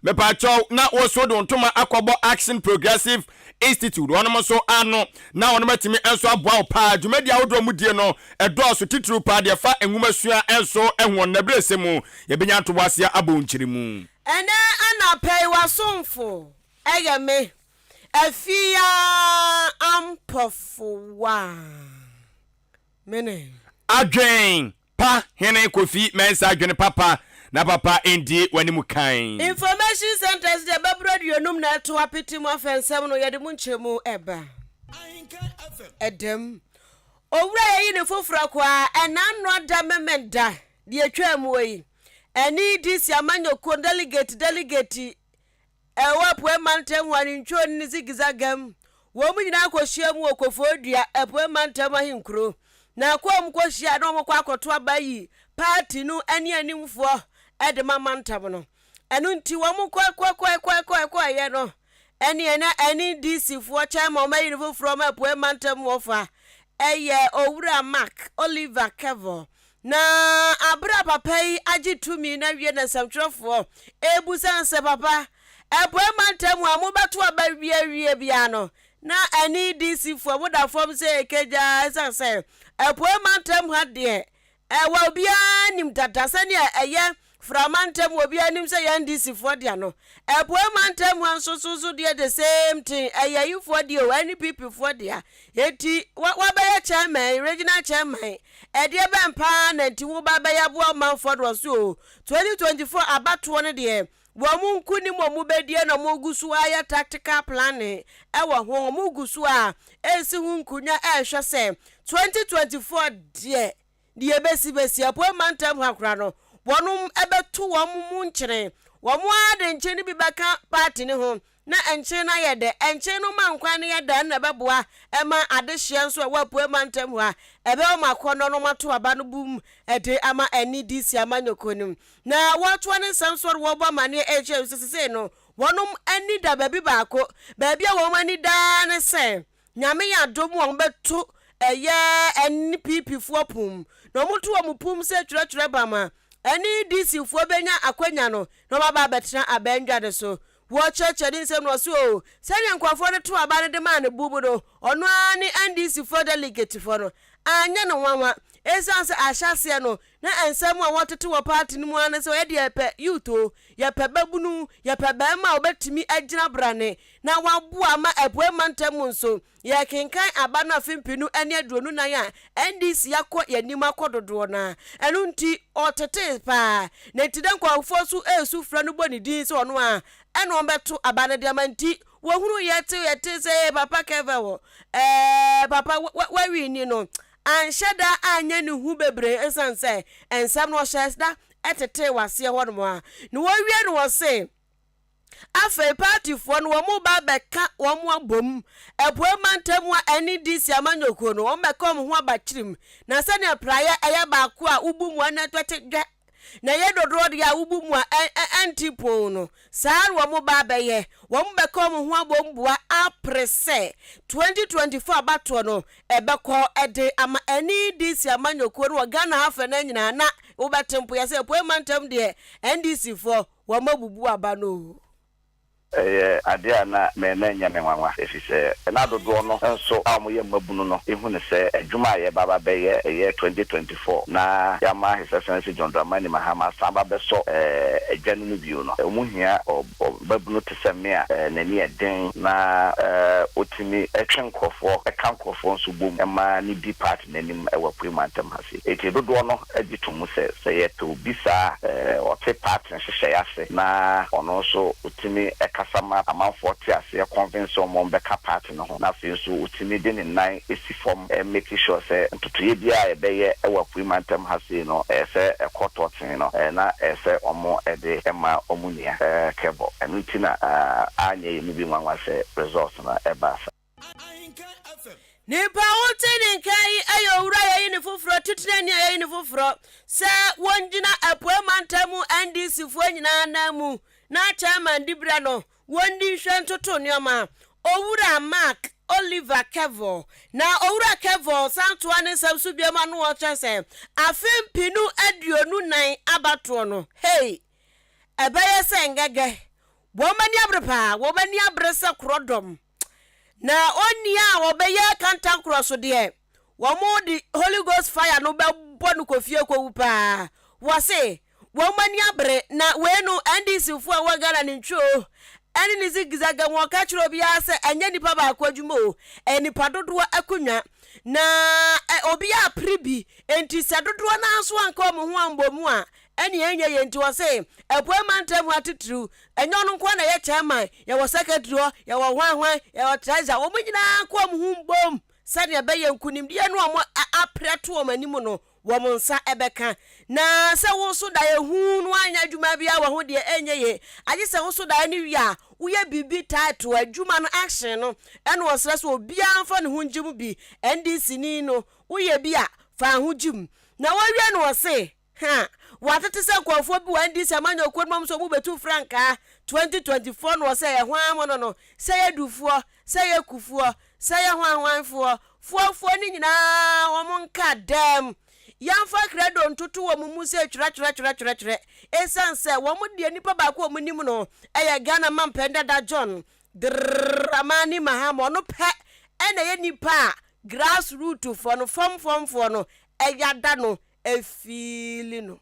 Mepakyɛw na wo so de wo ntoma akɔbɔ Action Progressive Institute wɔnom nso ano na wɔnom atumi nso aboa wo paa. Dwumadi ahodoɔ a wɔdie no dɔɔso titiriw paa deɛ ɛfa nwoma sua nso ho wɔn nabirɛsɛ mu yɛbɛnya ntoboaseɛ abɔ wo nkyeremu. Ɛnɛ anapa yi w'asomfo yɛ me afie ara ampɔfowa. Mene. Adwen Pa Hene Kofi Mensah dwene papa na papa ndi w'anim kan. Information centres deɛ bɛboro aduonum na ɛto apete mu afɛnsɛm no yɛde mu nkyɛmu ɛba. Ɛdam. Owura yɛyi ne foforɔ kɔ ara ɛnna nnoa da memen da deɛ ɛtwaa muo yi. Ɛne DC amanyɔkuo no delegate delegate Ɛwɔ Apuei Mantam wɔ Anintwoni ne Zigzaga mu. Wɔn nyinaa kɔhyiam wɔ Koforidua, Apuei Mantam ahenkuro. Na kɔ a wɔkɔhyia na wɔkɔ akɔto aba yi paati no anianimfoɔ de ma mantam no. Ɛno nti wɔkɔkɔkɔeɛ no neɛ na NDCfoɔ chairman a wɔayi no foforɔ ma Apuei Mantam wɔfa yɛ Owura Mark Oliver Kevor Na bere a papa yi agye tumi no awie na nsɛmtwerɛfoɔ rebisa no sɛ, Papa, Apueeɛ mantam mu a mobɛto aba awie awie biara no, na NEDCfoɔ moda fam sɛ ɛrekagya ɛsiane sɛ Apueeɛ mantam ha deɛ, ɛwɔ a obiara nim dada sɛdeɛ ɛyɛ Fra mantam wɔ obiara nim sɛ yɛn DC foɔ dea no Apuei mantam mu nso so so deɛ the same thing ɛyɛ yi foɔ deɛ o ɛne PP foɔ dea enti wa wa bɛyɛ chairman regional chairman ɛdeɛ bɛn paa na nti wo ba bɛyɛ aboa ɔmanfoɔ no ɔso o 2024 abatoɔ no deɛ wɔn mo nko nim wɔn mo bɛdie na wɔn gu so ayɛ tactical planning ɛwɔ ho wɔn gu so a ɛresi ho nkunya ɛrehwɛ sɛ 2024 deɛ Deɛ ɛbɛsi bɛsi, Apueeɛ Mantam ha koraa no, wɔn bɛto wɔn mu nkyene. Wɔn ara de nkyene no bi bɛka paati no ho na nkyene no ayɛ dɛ. Nkyene no ma nkwan no yɛ dɛ, ɛno na ɛbɛboa ma adehyeɛ nso a ɛwɔ Apueeɛ Mantam ha, ɛbɛyɛ wɔn akɔnnɔ na wɔato aba no bum de ama NDC amanyɔkuo no. Na wɔatoa ne nsa nso a wɔrebɔ amanneɛ rekyerɛ nso sɛ seisei no, wɔn ani da baabi baako. Baabi a wɔn ani da ara ne sɛ, Nyame yɛ adom a wɔbɛto ɛyɛ ɛne PP foɔ pum. Na wɔn to wɔn pum sɛ twerɛtwerɛ ba ma ɛne DC foɔ bɛnya akwanya no na wɔn aba abɛtena aba ndwa no so. Wɔ kyerɛkyerɛ ne nsɛm no wɔ so oo, sɛdeɛ nkorɔfoɔ no too aba no de maa no bum no, ɔno ara ne NDC foɔ delegate foɔ no anyɛ no nwanwa, ɛsiane sɛ ahyɛaseɛ no Na nsɛm a wɔtete wɔ party no mu ara ne sɛ wɔyɛ deɛ yɛpɛ, youth o, yɛpɛ babunu, yɛpɛ barima a ɔbɛtumi agyina brane na waboa ama Apuei Mantam mu nso. Yɛrekenkan aba no afe mpenu ne aduonu nnan a NDC akɔ yɛn anim akɔ dodoɔ no ara. Ɛno nti, ɔtetee pa ara. Na enti na nkurɔfoɔ nso resu frɛ no bɔ ne din sɛ ɔno ara na ɔbɛto aba no de ama nti wɔhunuu yɛte yɛte sɛ ee papa Kevin wɔ ɛɛɛ papa wa wa wawini no anhyɛ da anyɛ ne hu bebree esiane sɛ nsɛm no ɔhyɛɛ da tetee wɔ aseɛ hɔnom a na wɔawie no wɔ se afei paatifoɔ no wɔreba abɛka wɔn abom Apuei Mantam mu a ɛne DC amanyɔkuo no wɔbɛka wɔn ho aba kyirim na sɛdeɛ praeɛ ɛyɛ baako a wobu mu ɛna ɛtwɛte dwɛ Na ɛyɛ dodoɔ deɛ a wobu mu a ɛnte poo no, saa ara na wɔba abɛyɛ. Wɔbɛka wɔn ho abɔ mu boa apere sɛ 2024 abatoɔ no ɛbɛkɔ de ama NDC amanyɔkuo no wɔ Ghana ha fɛ no nyinaa na wobɛte mpoyɛ sɛ Apueeɛ mantam deɛ NDCfoɔ wɔabubu aba no o. Ɛyɛ adeɛ a na me na ɛnyɛ me nwanwa, ɛfiri sɛ na dodoɔ no nso a wɔyɛ mmabunu no hu no sɛ adwuma a yɛreba aba bɛyɛ ɛyɛ 2024 na yɛama His Excellency John Dramani Mahama asan aba abɛsɔ adwa no mu bio no, wɔn hia ɔbabunu te sɛ me a n'ani yɛ den na ɔtumi twe nkorɔfoɔ, ka nkorɔfoɔ nso bom ma no di part. n'anim wɔ Apuei Mantam ha sei. Enti dodoɔ no gye to mu sɛ, sɛ yɛpɛ obi saa a, ɔte party nhyehyɛeɛ ase na ɔno nso ɔtumi kasa ma amanfoɔ te aseɛ convince wɔn ma wɔbɛka party no ho na afei nso ɔtumi de ne nan si fam make sure sɛ ntotoeɛ biara a yɛbɛyɛ wɔ Apuei Mantam ha sei no, ɛyɛ sɛ ɛkɔ tɔɔtee no na ɛyɛ sɛ wɔde ma wɔn nua Kɛbɔ. Ɛno nti na anyɛ yɛn mu bi nwanwa sɛ results no baa saa. Nipa a wote ne nka yi yɛ owura a yɛayi no foforɔ, titenani a yɛayi no foforɔ sɛ wɔngyina Apueɛ Mantam mu NDCfoɔ nyinaa ananmu na Chairman Diberɛ no wɔndi nhwɛ ntoto nneɛma. Owura Mark Oliver Kevor. Na Owura Kevor san toa ne nsɛm so bio ma no ɔkyerɛ sɛ afe mpenu aduonu nnan abatoɔ no, hey, ɛbɛyɛ sɛ ngɛgɛ. Wɔn ani abere paa, wɔn ani abere sɛ korɔdɔm. Na onii a ɔbɛyɛ kantankorɔ so deɛ, wɔde Holy Ghost fire no bɛbɔ no kɔ fie kɔwu paa. Wɔse wɔn ani abere na wei no NDC foɔ a ɛwɔ Ghana ne ntwi o, ɛne ne zigzag a wɔka kyerɛ obiara sɛ ɛnyɛ nipa baako adwuma o, ɛyɛ nipa dodoɔ akonnwa. Na obiara apere bi, enti sɛ dodoɔ no ara nso anka wɔn ho ammɔ mu a, Ɛne ɛnyɛ yɛn nti ɔse apuei mantam hɔ atitiriw ɛnyɛ ɔno nkoa na ɛyɛ chairman yɛwɔ secretary hɔ yɛwɔ hwan hwan yɛwɔ treasurer wɔn nyinaa nka wɔn ho mbom sɛdeɛ ɛbɛyɛ nkunimdie no a wɔn aprɛ to wɔn anim no wɔn nsa ɛbɛka na sɛ wo so daeɛ huu no anyɛ adwuma biara wɔ ho deɛ ɛnyɛ yie agye sɛ wo so daeɛ no wie a woyɛ biribi title adwuma no action no ɛna ɔsrɛ sɛ obiara mfa ne ho ngye mu bi NDC ni no woyɛ bi a fa ho gye mu na wɔwie no ɔse Ha! W'ate te sɛ nkorɔfoɔ bi wɔ NDC amanyɔkuo no mom sɛ ɔmo bɛtu frankaa 2024 no wɔ sɛ yɛ hwan mono no, sɛ yɛ dufoɔ, sɛ yɛ kufoɔ, sɛ yɛ hwan hwan foɔ, foɔ foɔ no nyinaa ɔmo nka dɛm. Yɛnfa krɛdo ntoto ɔmo mu sɛ twerɛ twerɛ twerɛ twerɛ twerɛ ɛsiane sɛ wɔn deɛ nipa baako a ɔmo nim no ɛyɛ Ghana mampanin dada John Dramani Mahama ɔno pɛ ɛna ɛyɛ nipa a grass root foɔ no fam fam foɔ no ɛyɛ ada no afeeli no.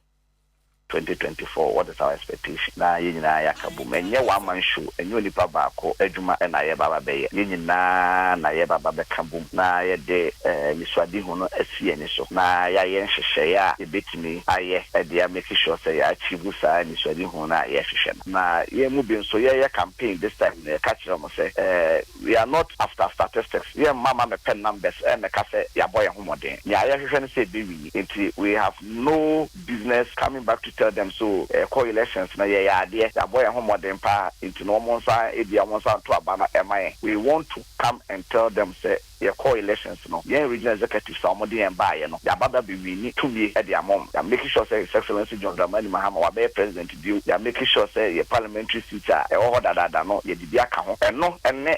Twenty twenty four what is our expectation na yɛn nyinaa yɛ aka bom ɛnyɛ one man show ɛnyɛ onipa baako adwuma na yɛba aba bɛyɛ yɛn nyinaa na yɛba aba bɛka bom na yɛde anisoadehu no asi yɛn ani so na yɛayɛ nhyehyɛeɛ a yɛbɛtumi ayɛ de a make sure sɛ yɛ achieve saa anisoadehu no a yɛhwehwɛ no na yɛn mu bi nso yɛyɛ campaign this time no yɛka kyerɛ wɔn sɛ We are not after statistics, yɛn mma ma mepɛ numbers ɛmmɛka sɛ yɛabɔ yɛn ho mmɔden. Nea yɛhwehwɛ ne sɛ yɛbɛwini nti we have no business coming back to tell them so yɛkɔ elections no yɛyɛ adeɛ, yɛabɔ yɛn ho mmɔden paa nti no wɔn nsa ebia wɔn nsa nto aba no ɛmma yɛn. We want to come and tell them sɛ yɛkɔɔ elections no, yɛn regional executives a wɔde yɛn baeɛ no, yɛaba bɛabɛwini tumi de ama wɔn. Yɛamake sure sɛ His Excellency John Dramani Mahama wabɛyɛ President. bio. Yɛ make sure sɛ yɛ parliamentary seats a ɛwɔ hɔ dadaada no yɛde bi aka ho. Ɛno ne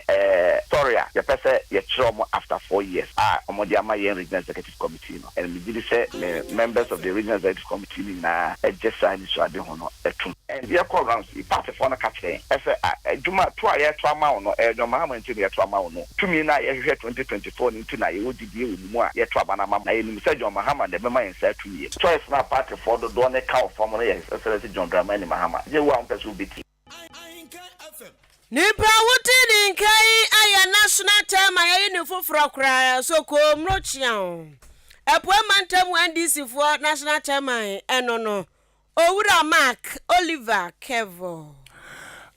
story a yɛpɛ sɛ yɛkyerɛ wɔn after four years a wɔde ama yɛn regional executive committee no. And megye di sɛ me members of the regional executive committee no nyinaa gye saa anisoadehu no tom. And yɛkɔ rounds yi, partyfoɔ no ka kyerɛ yɛn ɛsɛ a adwuma to a yɛto ama wo no ɛyɛ nnoɔma ahorow nti na yɛto ama wo no. Tumi no a yɛhwehwɛ twenty twenty four no nti na yɛwɔ gyidie wɔ mo mu a yɛto aba no ama mo. Na yɛnim sɛ John Mahama na ɛbɛma yɛn saa tumi no. pii. Choice no a partyfoɔ dodoɔ no ka wɔ fam no yɛ His Excellency John Dramani Mahama. Gye wo a wompɛ sɛ wobɛtie. Nipa a wotee ne nka yi ayɛ national chairman ayi ne foforɔ koraa so Koomro Kyeaw. Apueɛ mantam NDC foɔ national chairman ɛno no Owura Mark Oliver Kevor.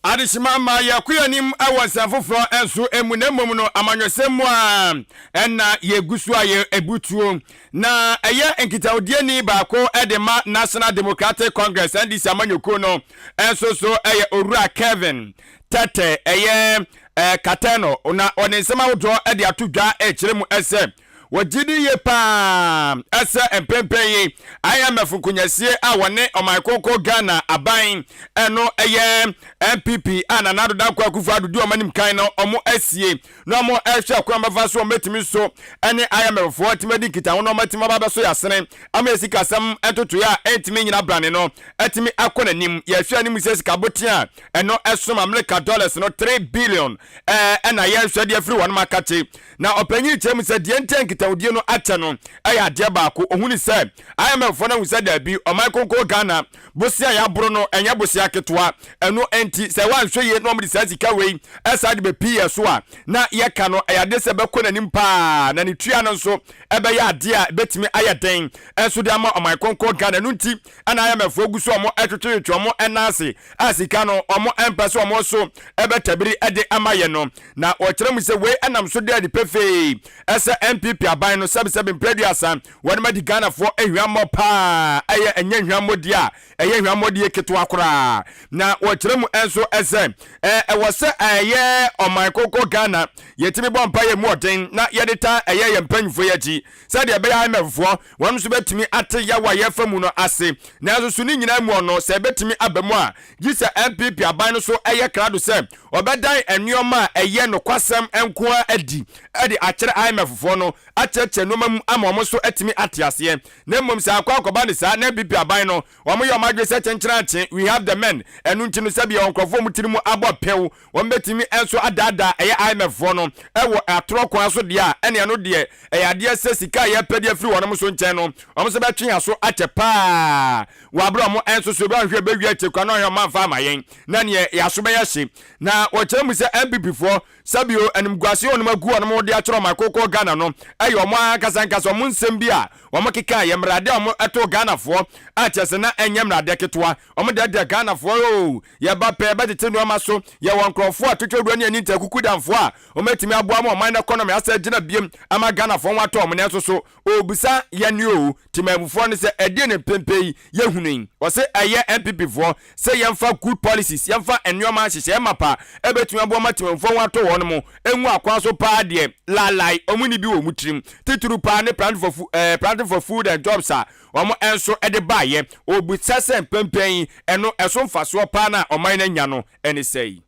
Adehyema mma yɛkɔ yɛn anim wɔ nsɛm foforɔ nso mu, na mmom no amanyɔsɛm mu a ɛnna yɛgu so a yɛbu tuo. Na ɛyɛ nkitahodini baako de ma National Democratic Congress, NDC, amanyɔkuo no nso so yɛ Owura Kevin Tɛtɛ, ɛyɛ Katɛnɔ, na ɔde nsɛm ahodoɔ de ato dwa kyerɛ mu sɛ Wɔgye di yie pa ara sɛ mprempren yi IMF nkonyasie a wɔne Ɔman Kronkron Ghana aban no yɛ NPP a Nana Addo Dankwa Akufo Addo di wɔn anim kan no wɔasie na wɔrehwɛ kwan a wɔbɛfa so a wɔbɛtumi nso ne IMF foɔ atumi adi nkitaho na wɔatumi aba abɛso yɛn asene ama yɛn sikasɛm ntotoeɛ a ɛntumi nnyina brane no atumi akɔ n'anim. Yɛhwɛ anim sɛ sika botee a ɛno som Amerika dollars no three billion ɛna yɛrehwɛ de afiri wɔnom akakye Na ɔpanyin yi kyerɛ mu sɛ deɛ nti a nkitahodie no akyɛ no yɛ adeɛ baako, ɔhu ne sɛ IMF foɔ no ahu sɛ daabi, ɔman kronkron Ghana bosea a yɛaboro no ɛnyɛ bosea ketewa, ɛno nti sɛ wɔanhwɛ yie na wɔde saa sika wei san de bɛpii yɛn so a, na yɛka no ɛyɛ adeɛ sɛ ɛbɛkɔ n'anim pa ara na ne tua no nso ɛbɛyɛ adeɛ a ɛbɛtumi ayɛ den nso de ama ɔman kronkron Ghana. Ɛno nti na IMF foɔ gu so wɔn twetwetwe wɔn nan ase a sika no wɔmpɛ sɛ wɔn so bɛtabiri de ama yɛn no. Na wɔkyerɛ mu sɛ wei nam so da adi pefee sɛ NPP aban no sɛbesɛbe mprɛ aduasa wɔnom adi Ghanafoɔ ahwammɔ paa ɛyɛ ɛnyɛ hwammɔdie a ɛyɛ hwammɔdie ketewa koraa. Na wɔkyerɛ mu nso sɛ ɛwɔ sɛ ɛyɛ ɔman kronkron Ghana yɛtumi bɔ mpaeɛ mu ɔden na yɛde tan ɛyɛ yɛn mpanyinfoɔ yi akyi sɛdeɛ ɛbɛyɛ IMF foɔ Wɔn nso betumi ate yaw a yɛrefa mu no ase. Nanso so ne nyinaa mu ɔno, sɛ ebetumi aba mu a, gye sɛ NPP aban no so yɛ krado sɛ wɔbɛdan nneɛma a ɛyɛ nokwasɛm nko ara adi de akyerɛ IMFfoɔ no, akyerɛkyerɛ nneɛma mu ama wɔn nso atumi ate aseɛ. Na mmom sɛ akɔ akɔba ne saa na NPP aban no, wɔyɛ wɔn adwene sɛ kyenkyerankye, we have the men, ɛno nti no sɛbea wɔ nkurɔfoɔ mu tiri mu abɔ pew, Wɔbɛtumi nso adaadaa ɛyɛ IMF foɔ no wɔ atorɔ kwan so deɛ a, ɛne ɛno deɛ ɛyɛ adeɛ sɛ sika a yɛpɛ de afiri wɔnom so nkyɛn no, wɔn nso bɛtwe yɛn aso akyɛ paa wɔ aberɛ a wɔn nso so wɔanhwɛ bɛwie akyire koraa na wɔn nso wɔamfa ama yɛn na neɛ yɛn aso bɛyɛ hye. Na wɔkyerɛ mu sɛ NPP foɔ, sɛbio animguaseɛ a wɔnom agu wɔnom de akyerɛ wɔn akookoo Ghana no yɛ wɔn ara ankasa ankasa wɔn nsɛm bi a wɔn kekaeɛ, mmaradeɛ a wɔtoo Ghanafoɔ a kyerɛ sɛ na ɛnyɛ mmaradeɛ ketewa, wɔdɛɛdɛɛ Ghanafoɔ oo. Yɛba pɛ bɛtete nnoɔma so. Yɛwɔ nkorɔfoɔ a twetwe doɔ ne ani ntaa kuku damfoɔ a wɔbɛtumi aboa ama ɔman no ɛkɔnɔmi asɛ agyina biom ama Ghanafoɔ ho atɔ wɔn nanso so ɔrebisa yɛne oo Temanmufoɔ no sɛ ɛdeɛn na mprempren yi yɛhunu yi? Wɔse ɛyɛ NPP foɔ sɛ yɛmfa good policies yɛmfa nnoɔma nhyehyɛɛ mapa a ɛbɛtumi aboa ma Temanmufoɔ ho atɔ wɔnom ngu akwan so paa deɛ laalae wɔn nni bi wɔ wɔn tirim titiriw paa ne planting for food and jobs a wɔn nso de baeɛ. Ɔbisa sɛ mpɛmpɛn yi, ɛno ɛso mfasoɔ paa no a ɔman no anya no ne sɛn?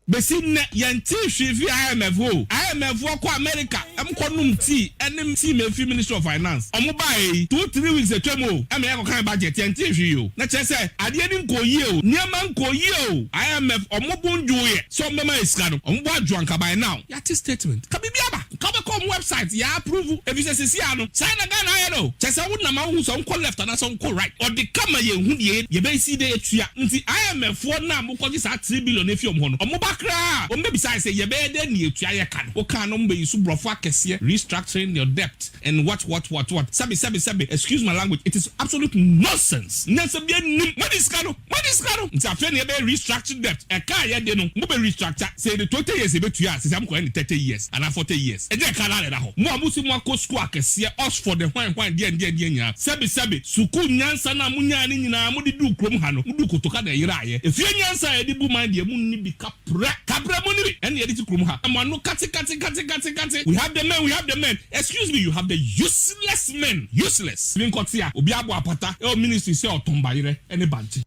Bɛsi nnɛ, yɛntee hwee firi IMF hɔ o. IMF foɔ kɔ Amerika kɔ nom tii ɛne team a ɛfiri Ministry of Finance. Wɔn baeɛ yi, two three weeks atwam o, ɛma yɛkɔkan budget, yɛntee hwee o. Na kyerɛ sɛ, adeɛ no nkɔɔ yie o, nneɛma nkɔɔ yie o. IMF wɔn bo nnwooeɛ sɛ wɔbɛma yɛn sika no, wɔn bo adwo anka by now. Yate statement. Ka biribi aba. Nka wobɛkɔ wɔn website yɛ approve efisɛ seesei ara no saa na Ghana ayɛ no o. Kyerɛ sɛ wo nam a wohu sɛ wonkɔ left anaasɛ wonkɔ right. Ɔde ka ma yɛnhu deɛ yɛbɛsi dɛn atua. Nti IMF foɔ no a mokɔgye saa three billion no afi wɔn hɔ no, wɔn ba koraa a wɔn bɛbisa ayɛ sɛ yɛbɛyɛ dɛn de atua yɛ ka no. Wokaa no wɔn bɛ use borɔfo akɛseɛ restructuring your debt and what what what what sɛbe sɛbe sɛbe excuse my language it is absolute nonsense nyansa biara nnim. Moadi sika no. Wode sika no nti afei na yɛbɛyɛ restructured debt ɛka a yɛde no mo bɛ restructure sɛ yɛde twenty years yɛbɛtua a sɛsɛ mo kɔyɛ no thirty years anaa forty years ɛnyɛ ɛka no ara na ɛda hɔ mo a mo se mo akɔ sukuu akɛseɛ Oxford ne hwan hwan deɛn deɛn deɛn nyinaa sɛbe sɛbe sukuu nyansa no a mo nyaeɛ no nyinaa mo de duu kurom ha no mo duu kotoka na ɛyeraeɛ efie nyansa a yɛde bu man deɛ mo nni bi ka Pra kabra mu no bi ɛna yɛde si kurom ha. Mo ano kate kate kate kate kate we have the men we have the men excuse me you have the useless men useless tumi nkɔ te a obi abɔ apata ɛwɔ ministry sɛ ɔtɔn bayerɛ ɛne bankye.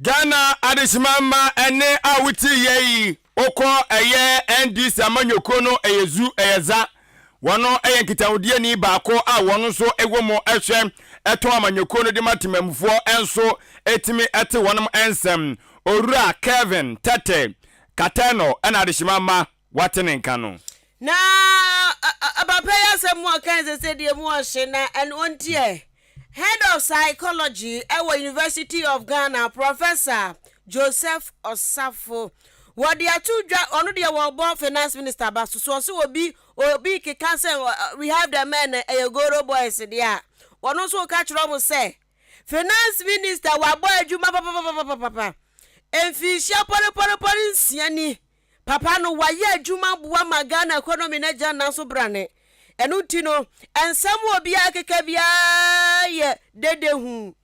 Ghana adehyema mma ɛne a wote yɛ yi wokɔ ɛyɛ NDC amanyɔkuo no ɛyɛ zu ɛyɛ za Wɔn yɛ nkitahodiyɛni baako a wɔn nso wɔ mu hwɛ tɔn amanyɔkuo no de ma temanmufoɔ nso tumi te wɔn nsɛm. Owura Kelvin Tete Katano na adehyema mma wɔate ne nka no. Na papa yi asɛm mu ɔkae sɛ sɛdeɛ mu ɔhye na ɛno nti ɛ Head of Psychology wɔ University of Ghana, Professor Joseph Osafo, wɔde ato dwa, ɔno deɛ wɔbɔ Finance Minister ba so, so ɔse obi obi keka sɛ we have the men na ɛyɛ Goro Boys deɛ a, ɔno nso ka kyerɛ wɔn sɛ Finance Minister wabɔ adwuma papapapapapa mfirinhyia pɔrepɔrepɔre nsia ni. Papa no wayɛ adwuma boa ma Ghana economy no agyina ne nan so brane. Ɛno nti no, nsɛm a obiara keka biara yɛ dede hu.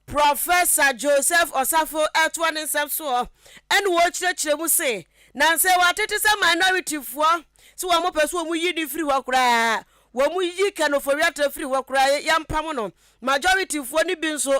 Professor Joseph Osafo ɛtoa ne nsɛm soɔ ɛna ɔkyerɛkyerɛ mu se, Nansa yi wɔatete sɛ minority foɔ se wɔn pɛ sɛ wɔn yi no firi hɔ koraa, wɔn yi Ken Ofori-Atta firi hɔ koraa, yɛmpam no, majority foɔ no bi nso,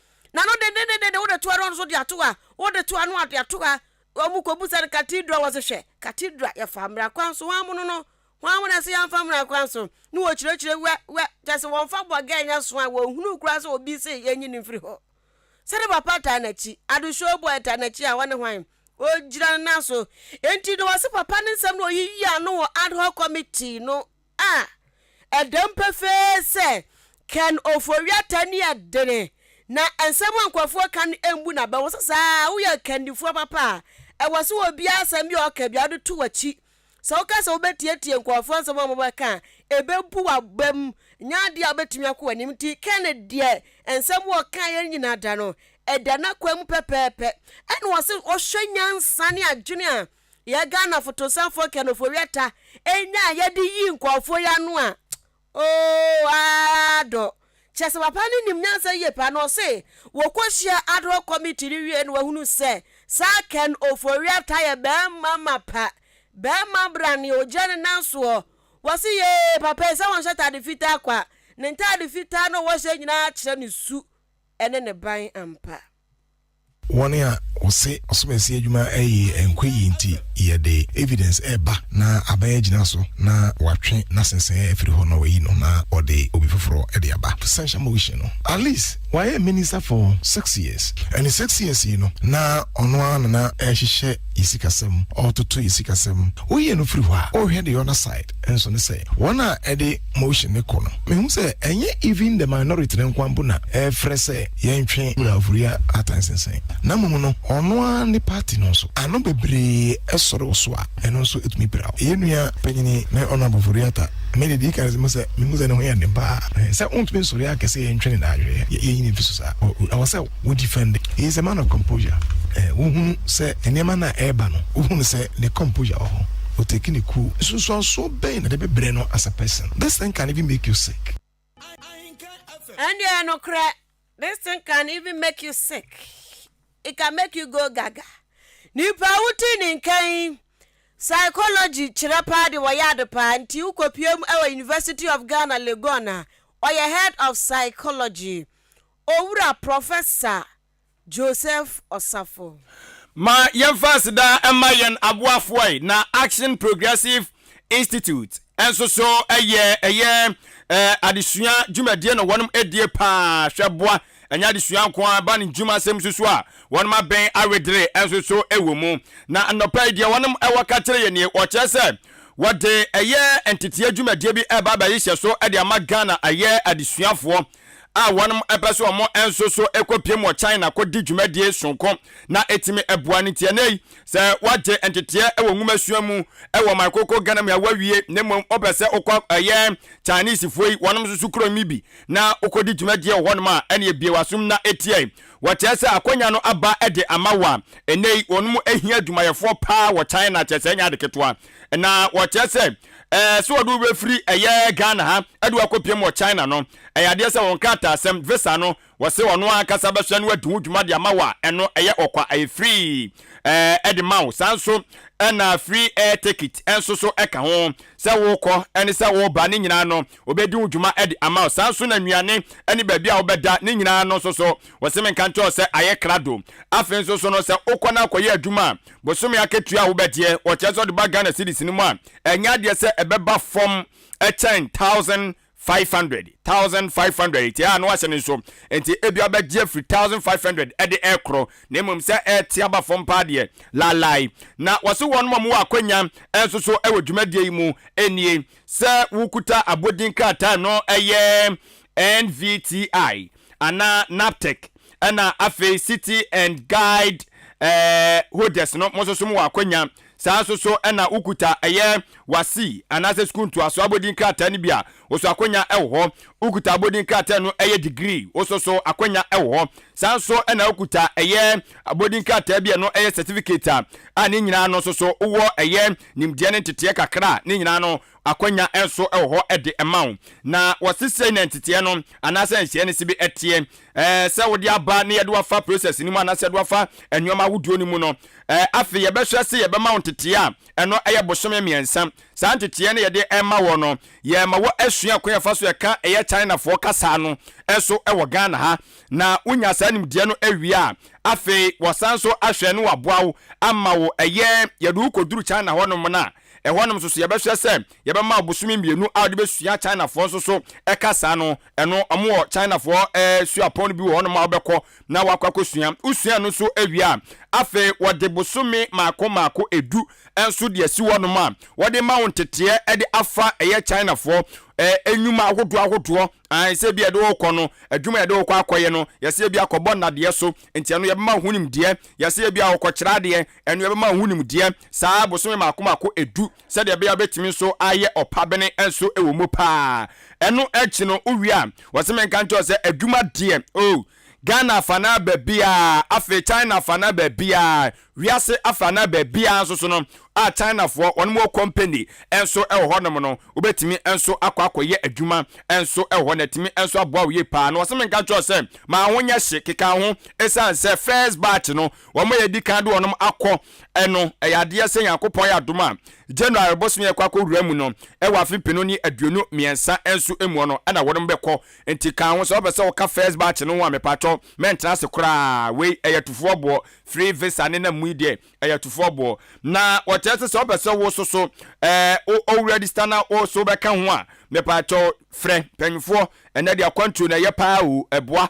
Na no dendendenden no, wode to ara no so de ato ha, wode to ha no ade ato ha. Wɔkɔbisa no Cathedral, wɔse hwɛ, Cathedral, yɛfaa mmara kwan so, hwan mono no? Hwan mo na ɛse yɛmfa mmara kwan so? Ne wɔkyerɛkyerɛ wɛ, wɛ, kyɛ se wɔmfa bɔgɛɛ nyɛ so a, wɔnhunuu koraa sɛ obi se yɛnyi no mfiri hɔ. Sɛde papa taa n'akyi, Adesua Oboi taa n'akyi a, ɔne hwan? Ɔgyina no nan so. Enti no wɔse papa no nsɛm no wɔyiyi ano wɔ Ad-hoc Committee no A Ɛda mu pefee sɛ Ken Ofori-Atta ani yɛ dene na nsɛm a nkurɔfoɔ ka no mbu no abɛn. Wɔ sɛ saa ara woyɛ akannifoɔ papa a, ɛwɔ sɛ obiara asɛm bi a ɔka biara wode to w'akyi. Sɛ woka sɛ wobɛtiatia nkurɔfoɔ nsɛm a wɔbɛka a, ɛbɛbu w'abam. Ɛnyɛ adeɛ a wobɛtumi akɔ w'anim. Nti Ken deɛ, nsɛm a ɔkaeɛ no nyinaa da no, ɛda n'akwan mu pɛpɛɛpɛ. Ɛna ɔse ɔhwɛ nyansa ne adwene a yɛ Ghana fotosanfoɔ Ken Ofori-Atta nya a yɛde yii nkurɔfoɔ yi ano a, ooh aah dɔ. Kyerɛ sɛ papa no nim nyansa yie paa na ɔse wɔkɔhyia ad hoc committee no wieeɛ na wahunu sɛ saa Ken Ofori-Atta yɛ barima mapa, barima brane ɔgyina ne nan soɔ. Wɔse yee papa yi sɛ ɔnhyɛ ataade fitaa kwa, ne ntaade fitaa na ɔhyɛ nyinaa kyerɛ ne su ne ne ban ampa. Wɔn a wɔse ɔsomasi adwuma ye nkwa yi nti yɛde evidence reba na aban agyina so na wɔatwe n'asensɛɛ afiri hɔ na wɔayi no na wɔde obi foforɔ de aba. Censure motion no at least wayɛ minister for six years and six years yi no na ɔno ara na na ɛrehyehyɛ yɛ sikasɛm, ɔretoto yɛ sikasɛm. Woyie no firi hɔ a, wohwɛ the other side. nso ne sɛ wɔn a ɛde motion no kɔ no mehu sɛ ɛnyɛ even the minority no nkoa mpo na ɛrefrɛ sɛ yɛntwe Wura Ofori Atta nsensɛn na mmom no ɔno ara ne party no nso ano bebree sɔre wɔ so a ɛno nso tumi pira wo. Yɛn nua panyini me Honourable Ofori Atta me deɛ deɛ ɛdi kan no sɛ mehu sɛ ne ho yɛ den paa sɛ wontumi nsɔre akɛse yɛntwe ne naadwereɛ yɛnyi ne mfi so saa ɛwɔ sɛ wo defend it, he is a man of composure, eh, wo hunu sɛ nneɛma no a ɛreba no, wo hunu sɛ ne composure wɔ hɔ, o take ne cool, nsunsuansoɔ bɛn na de bɛbrɛ no as a person, this thing can even make you sick. Ɛndeɛ nokorɛ, this thing can even make you sick, it can make you go gaga, nipa wo ti ne nka yi, psychology kyerɛ paa de wɔyɛ ade paa, nti wo kɔpie mu ɛwɔ University of Ghana Legon a, ɔyɛ head of psychology, Owura Professor Joseph Osafo. Ma yɛmfa aseda mma yɛn aboafoɔ ɛ na Action Progressive Institute nso so yɛ ɛyɛ adesua dwumadie na wɔnom die paa hwɛ boa ɛnyɛ adesua nko ara ba ne dwuma sɛm nso so a wɔnom abɛn awedere nso so wɔ mu na nnɔpa yi deɛ wɔnom ɛwɔ ka kyerɛ yɛ nie wɔkyerɛ sɛ wɔde ɛyɛ nteteɛ dwumadie bi ɛba abɛhyehyɛ so ɛde ama Ghana ɛyɛ adesuafoɔ a wɔpɛ sɛ wɔn nso so kɔpiem wɔ China kɔdi dwumadie soronko na ɛtumi boa no nti. Ɛnnɛ yi, sɛ woagye nteteɛ wɔ nwomasua mu wɔ ɔman koko Ghana mu a, woawie na mmom wopɛ sɛ wokɔ ɛyɛ Chinesefoɔ yi wɔnom nso so kurom yi bi na wokɔdi dwumadie wɔ hɔnom a, ɛneɛ bue w'asom na tie. Wɔkyerɛ sɛ akwannya no aba de ama wo a, ɛnnɛ yi wɔnom hia adwumayɛfoɔ paa wɔ China, kyerɛ sɛ ɛnyɛ ade ketewa. na wɔkyerɛ sɛ ɛɛ sɛ wɔde wobɛfiri ɛyɛ ghana ha ɛde wakɔpiam wɔ china no ɛyɛ adeɛ sɛ wɔn krataasɛm visa no wɔse ɔno ankasa bɛhwɛ no adi ho dwuma de ama wo a ɛno ɛyɛ ɔkwa ɛyɛ free ɛɛ ɛde ma wo saa nso ɛna free air ticket ɛnso so ɛka ho sɛ wokɔ ɛne sɛ woba ne nyinaa no wɔbɛdi ho dwuma ɛde ama wo saa nso na nnuane ɛne baabi a wobɛda ne nyinaa no nso so wɔse menka nkyɛw sɛ ayɛ krado afei nso so no sɛ wokɔ no akɔyɛ adwuma a Bosome akatua a wobɛgyeɛ, wɔkyerɛ sɛ ɔde ba Ghana cedis no mu a, ɛnyɛ adeɛ sɛ ɛbɛba fam kyɛn thousand five hundred, thousand five hundred nti a na wahyɛ no nso nti ebi abɛgye afiri thousand five hundred ɛde ɛrekoro na mmom sɛ ɛrete aba fam paa deɛ laalae na wɔse wɔn ma wɔwɔ akwanya nso so wɔ dwumadie yi mu nie sɛ wokuta abodin krataa no ɛyɛ NVTI anaa NABTEC ɛna afei City and Guide eh, holders no mo nso mo wɔ akwanya saa nso so ɛna wokuta ɛyɛ wasi anaasɛ sukuu ntoaso abodin krataa no bi a woso akwanya ɛwɔ hɔ wokuta abodin krataa no ɛyɛ degree woso so akwanya ɛwɔ hɔ saa nso ɛna wokuta ɛyɛ abodin krataa bi a ɛno ɛyɛ certificate a a ne nyinaa no nso so wowɔ ɛyɛ nimdeɛ ne nteteɛ kakra ne nyinaa no Akwanya nso wɔ hɔ de ma wo. Na wɔse sei na nteteɛ no anaasɛ nhyeɛ no se bi teɛ. Ɛɛ sɛ wode aba na yɛde wo afa process no mu anaasɛ yɛde wo afa nnoɔma ahodoɔ no mu no, ɛɛ afei yɛbɛhwɛ se yɛbɛma wo nteteɛ a ɛno yɛ bosome mmiɛnsa. Saa nteteɛ no yɛde ma wɔ no, yɛma wɔ asua kwan a yɛfa so yɛka ɛyɛ Chinafoɔ kasaa no nso wɔ Ghana ha. Na wo nya saa nimdeɛ no wie a, afei wɔsan so ahwɛ na wɔaboa wo ama wo ɛyɛ yɛde wo kɔduru China hɔ nom no a, Ɛhɔ nom nso so yɛbɛhwɛ sɛ yɛbɛma ɔbosome mmienu a wɔde bɛsua Chinafoɔ nso so kasa no, ɛno wɔn wɔ Chinafoɔ suapɔn no bi wɔ hɔ nom a wobɛkɔ na wakɔ akɔsua. Wosua ɛno nso wie a, afei wɔde bosome mmaako mmaako du nso de asi hɔ nom a wɔde ma wo nteteɛ de afa ɛyɛ Chinafoɔ nnwuma ahodoɔ ahodoɔ, ae, sɛ ebi a yɛde wokɔ no, adwuma a yɛde wokɔ akɔyɛ no, yɛsɛ ebi akɔbɔ nnadeɛ so, nti ɛno yɛbɛma ho nimdeɛ, yɛsɛ ebi a wɔkɔkyerɛ adeɛ, Ɛno bɛma woahu nimdeɛ saa bosome mmaako mmaako edu sɛdeɛ ɛbɛyɛ a wobɛtumi nso ayɛ ɔpabene nso wɔ mu paa. Ɛno akyi no, wowie a, wɔse menka nkyerɛ wo sɛ adwuma deɛ, oh, Ghana afa no ara baabiara, afei China afa no ara baabiara, wiase afa no ara baabiara nso so no, a Chinafoɔ wɔn wɔ company nso wɔ hɔnom no, wobɛtumi nso akɔ akɔyɛ adwuma nso wɔ hɔ na atumi nso aboa wo yie paa. Na wɔse menka nkyerɛ wo sɛ ma wo ho nyɛ hye, keka wo ho, ɛsiane sɛ first batch no, wɔn a yɛadi kan de wɔn akɔ no, ɛyɛ adeɛ sɛ Nyankopɔn yɛ adom a, January bosome yɛkɔ akɔwura mu no, ɛwɔ afe mpenu ne aduonu mmiɛnsa nso muɔ no na wɔnom bɛkɔ. Nti ka ho sɛ wopɛ sɛ woka first batch no ho a, mepaatwɔ mɛntena ase koraa. Wei ɛyɛ atufoɔ boɔ. Free visa ne nam mu yi deɛ, ɛyɛ atufoɔ boɔ. Na wɔkyerɛ sɛ sɛ wopɛ sɛ wo so so ɛɛ wo register na wo so bɛka ho a, mepaatwɔ frɛ mpanyinfoɔ. Ɛnɛ deɛ akwantuo no ɛyɛ paa o, ɛboa.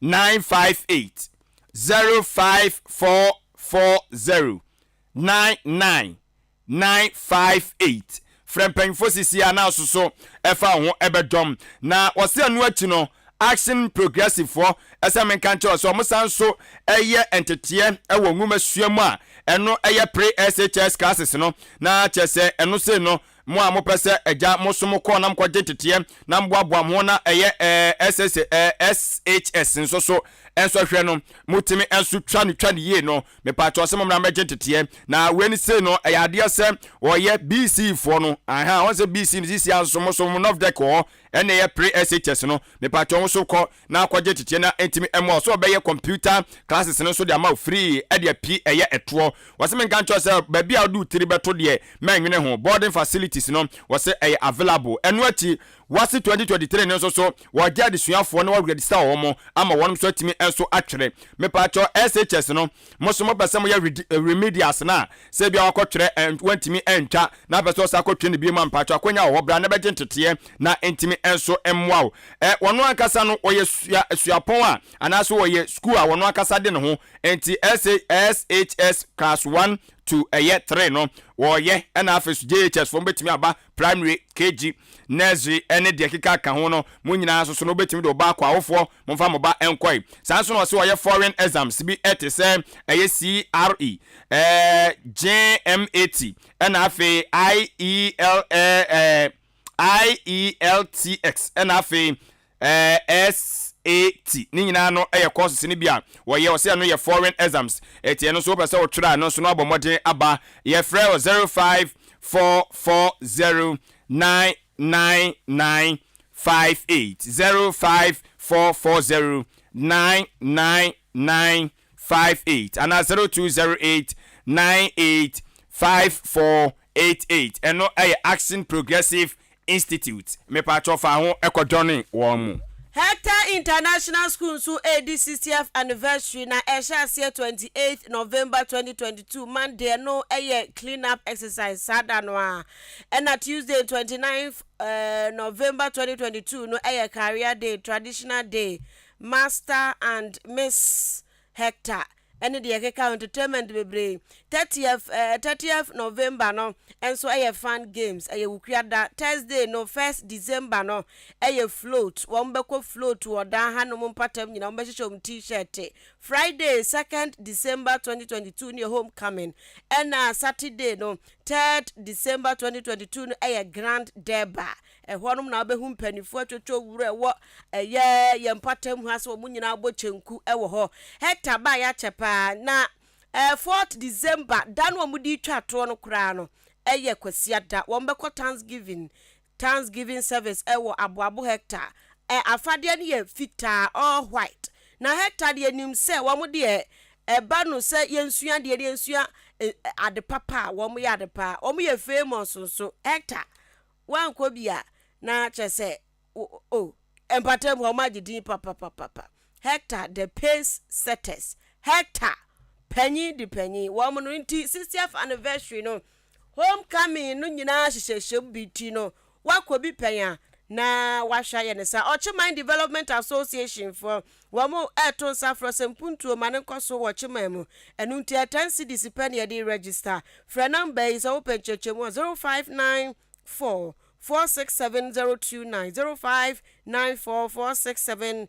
nine five eight zero five four four zero nine nine nine five eight frɛ mpanyinfoɔ sisi a na asoso ɛfa ho ɛbɛdɔm na wɔsi ɛno akyi no action progressive foɔ ɛsɛ menka nkyɛn sɛ wɔn san so ɛyɛ nteteɛ ɛwɔ nwoma sua mu a ɛno ɛyɛ pre SHS classes no na kyɛ sɛ ɛno sei no Mo a mopɛ sɛ Agya mo so mo kɔ na mokɔgye nteteɛ na moboaboa mo ho na ɛyɛ ɛɛ SSA ɛɛ SHS nso so nso hwɛ no, motumi nso twa no twa no yie no, mepaakyɛw sɛ mommra mmɛgye nteteɛ. Na wei no sei no ɛyɛ adeɛ sɛ wɔyɛ BC foɔ no ahaa wɔn sɛ BC no sisia nso mo so mo NOVDEC wɔ hɔ ɛna ɛyɛ pre SHS no, mepaakyɛw wo nso kɔ na akɔgye tete na ɛntumi mmoa wo sɛ ɔbɛyɛ computer classes no nso de ama wo free ɛdeɛ pii ɛyɛ ɛtoɔ wɔse menka nkyerɛ wo sɛ baabi a wode wo tiri bɛto deɛ mɛnwene ho boarding facilities no wɔse ɛyɛ available ɛno akyi wɔse 2023 no nso so wɔgye adesuafoɔ na wɔregister wɔn ama wɔnom nso atumi nso atwere mepaakyɛw SHS no Mo so mopɛ sɛ moyɛ remedials no a, sɛ ebia wakɔtwerɛ and wantumi antwa na apɛ sɛ ɔsan akɔtwerɛ no biom a, mpakyɛ akɔnya wɔ hɔ bra na bɛgye nteteɛ na ntumi nso mmoa wo. Ɛ, wɔno ankasa no wɔyɛ sua, suapɔn a, anaasɛ wɔyɛ sukuu a wɔno ankasa de ne ho. Nti SHS class one to ɛyɛ three no wɔyɛ, ɛna afei so JHS foɔ mobɛtumi aba primary, KG, nursery ɛne deɛ ɛkeka ka ho no, mo nyinaa nso so no wobɛtumi de wo ba akɔ awofoɔ Momfa mo ba nkɔe. Saa nso na ɔse ɔyɛ foreign exams bi te sɛ ɛyɛ CRE, eh, JMAT ɛna afei IEL, eh, IELTX ɛna afei eh, SAT. Ne nyinaa no ɛyɛ courses no bi a wɔyɛ. Ɔse ɛno yɛ foreign exams. Ɛti ɛno nso wopɛ sɛ wotwerɛ a ɛno nso no abɔ mmɔden aba. Yɛfrɛ wɔ 05440999 five eight zero five four four zero nine nine nine five eight anaa zero two zero eight nine eight five four eight eight ɛno ɛyɛ Action Progressive Institute mepatwɔ fa ho ɛkɔdɔne wɔn mu. Hector International School nso redi sixtieth anniversary na ɛhyɛ aseɛ twenty eighth November twenty twenty two Monday no yɛ clean up exercise saa da no ara ɛna Tuesday twenty ninth November twenty twenty two no yɛ Career Day, Traditional Day, Master and Miss Hector ne deɛ ɛkeka ho entertainment bebree. Thirtieth ɛɛ thirtieth November no nso yɛ Fun Games, ɛyɛ Wukia da. Thursday no first December no yɛ Float, wɔn bɛkɔ float wɔ dan hanom mpatam nyinaa, wɔn bɛhyehyɛ wɔn T-shirt. Friday second December twenty twenty two no yɛ Homecoming, ɛna Saturday no Third December twenty twenty two no yɛ Grand Durbar, ɛhɔnom na wobɛhu mpaninfoɔ atwotwo wura ɛwɔ ɛyɛ yɛn mpɔtam hɔ ase, wɔn nyinaa bɔ kyenku wɔ hɔ. Hector baa yɛ akyɛ paa, na ɛɛ fourth December da no a wɔde retwa toɔ no koraa no yɛ Kwasiada, wɔbɛkɔ Thanksgiving Thanksgiving service ɛ wɔ aboabo hectare ɛ afadeɛ no yɛ fitaa all white na hectare deɛ nim sɛ wɔn deɛ ɛ ba no sɛ yɛn sua deɛ no yɛn sua ɛ ade papa a wɔn yɛ ade paa wɔn yɛ famous nso hectare wɔn kɔ bi a na kyɛ sɛ o o mpatam hɔ wɔn agye din papapapapa hectare the pace setters hectare panyin de panyin wɔn no nti 60th anniversary no Home coming no nyinaa hyehyɛhyɛm bi nti no wakɔ bi pɛn a na wahwɛ ayɛ ne saa. Ɔkye Man Development Association foɔ wɔn ɛɛto nsa frɛ sɛ mpuntuo ma no nkɔ so wɔ Kyeman mu ɛno nti ɛyɛ ten cedis pɛ na yɛde register. Frɛ number yi sɛ wopɛ nkyerɛkyerɛmu a 0594 467029 0594 467029.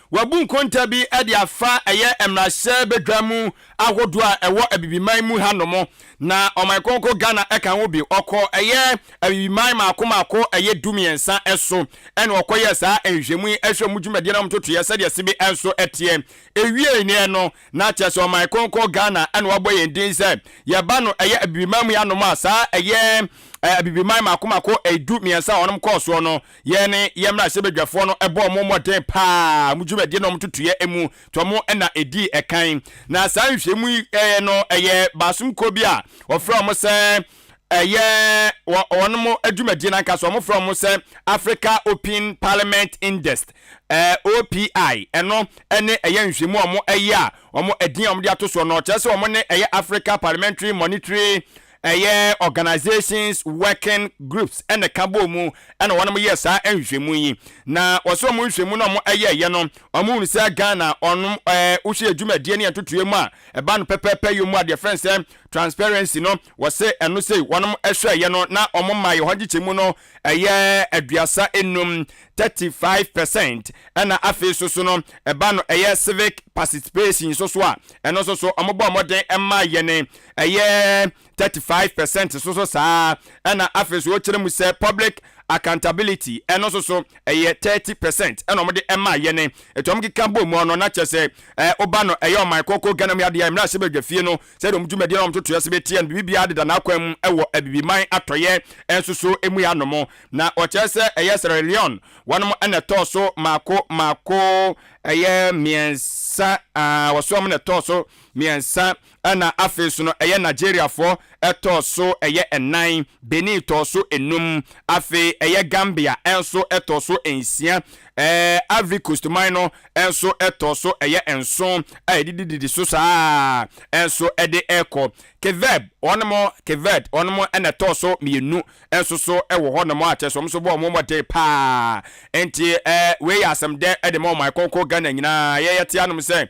Wɔabu nkonta bi de afa ɛyɛ mmarahyɛbadwam ahodoɔ a ɛwɔ Abibiman mu hanom, na Ɔman Kronkron Ghana ka ho bi. Ɔkɔ ɛyɛ Abibiman maako maako ɛyɛ du mmiɛnsa so na ɔkɔyɛɛ saa nhwehwɛmu yi hwɛ mu dwumadie no a wɔtotoeɛ sɛdeɛ ɛse bi nso teɛ. Ɛwiee neɛ no, na kyerɛ sɛ Ɔman Kronkron Ghana na wabɔ yɛn din sɛ yɛba no ɛyɛ Abibiman mu hanom a saa ɛyɛ Abibiman maako maako ɛyɛ du mmiɛnsa a wɔnom kɔɔ soɔ no, Yɛn ne yɛn mmarahyɛbadwafoɔ no bɔɔ wɔn mmɔden pa ara wɔn dwumadie ne wɔn ntotoeɛ mu, nti wɔn na ɛdii ɛkan. Na saa nhwehwɛmu yi no ɛyɛ baasom kuo bi a wɔfrɛ wɔn sɛ ɛyɛ wɔ wɔn dwumadie no ankasa wɔn frɛ wɔn sɛ Africa Open Parliament Index, OPI, ɛno ne ɛyɛ nhwehwɛmu a wɔn ɛyɛ a wɔn ɛdin a wɔn de ato soɔ no kyerɛ sɛ wɔn ne ɛyɛ Africa Parliamentary Monitory Ɛyɛ Organisations Working Groups na ɛka bɔɔ mu na wɔyɛɛ saa nhwehwɛmu yi. Na wɔse wɔn nhwehwɛmu no a wɔyɛeɛ no, wɔhunu sɛ Ghana wɔn wohwɛ yɛ dwumadie ne yɛ ntotoeɛ mu a, ɛba no pɛpɛɛpɛ yom mu a deɛ yɛfrɛ no sɛ Transparency no, wɔse ɛno sei wɔn hwɛeɛ no na wɔn maeɛ hɔ nkyekyɛmu no ɛyɛ aduasa nnum, 35 percent, ɛna afei nso so no ɛba no ɛyɛ Civic Participation nso so a, ɛno nso so wɔbɔɔ mmɔden maa yɛn. ɛyɛ thirty five percent nso so saa ara, ɛna afei nso wɔkyerɛ mu sɛ public accountability ɛno nso so ɛyɛ thirty percent ɛna wɔde ɛma yɛ ne ɛtɔ wɔn keka bɔ mu no na kyerɛ sɛ ɛɛ ɔba no ɛyɛ ɔman kɔkɔ Ghana mu adeɛ mmerɛ ahyɛbadwafie no sɛdeɛ wɔn dwumadie na wɔn totoɛ sɛ bɛteɛ no biribiara deda n'akwan mu ɛwɔ abibiman atɔyɛ nso so emu yɛ anom na wɔkyerɛ sɛ ɛyɛ Sierra Leone wɔn ɛna ɛtɔɔ so maako maako ɛyɛ mmiɛnsa wɔsoɔ wɔn na ɛtɔɔ so mmiɛnsa ɛna afei so no ɛyɛ Nigeriafoɔ ɛtɔɔ so ɛyɛ ɛnan, Benin tɔɔ so ɛnum, afei ɛyɛ Gambia ɛnso ɛtɔɔ so ɛnsia, ɛɛ Ivory Coast man no ɛnso ɛtɔɔ so ɛyɛ ɛnson a ɛdidididi so saa ɛnso ɛde ɛkɔ. Keveb wɔn mo Keved wɔn mo ɛna ɛtɔɔ so mmienu ɛnso so ɛwɔ hɔ nom a kyerɛ sɛ wɔn nso bɔ wɔn mmɔden paa nti ɛɛ wei yɛ asɛm dɛ ɛde ma ɔman kɔnkɔ Ghana nyinaa yɛyɛ te anom sɛ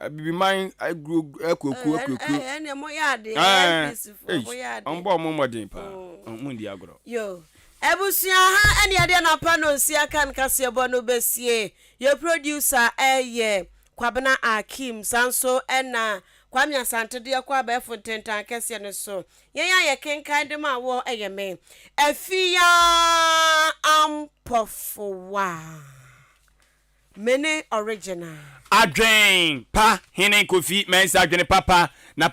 abibiman aguro akuakuo akuakuo wɔn bɔ wɔn mmɔden paa wɔn ndi agorɔ. abusua ha ɛne ɛdeɛ na pa no nsi aka nkaseɛbɔ no bɛsie yɛ producer ɛyɛ kwabena akim saa nso ɛna kwame asante deɛ kɔ abɛɛfo ntentan kɛseɛ no so yɛn a yɛ kenkan de ma wɔ ɛyɛ me afia ampɔfowa Mene original. Adwen pa hene Kofi Mensah dwene papa na papa.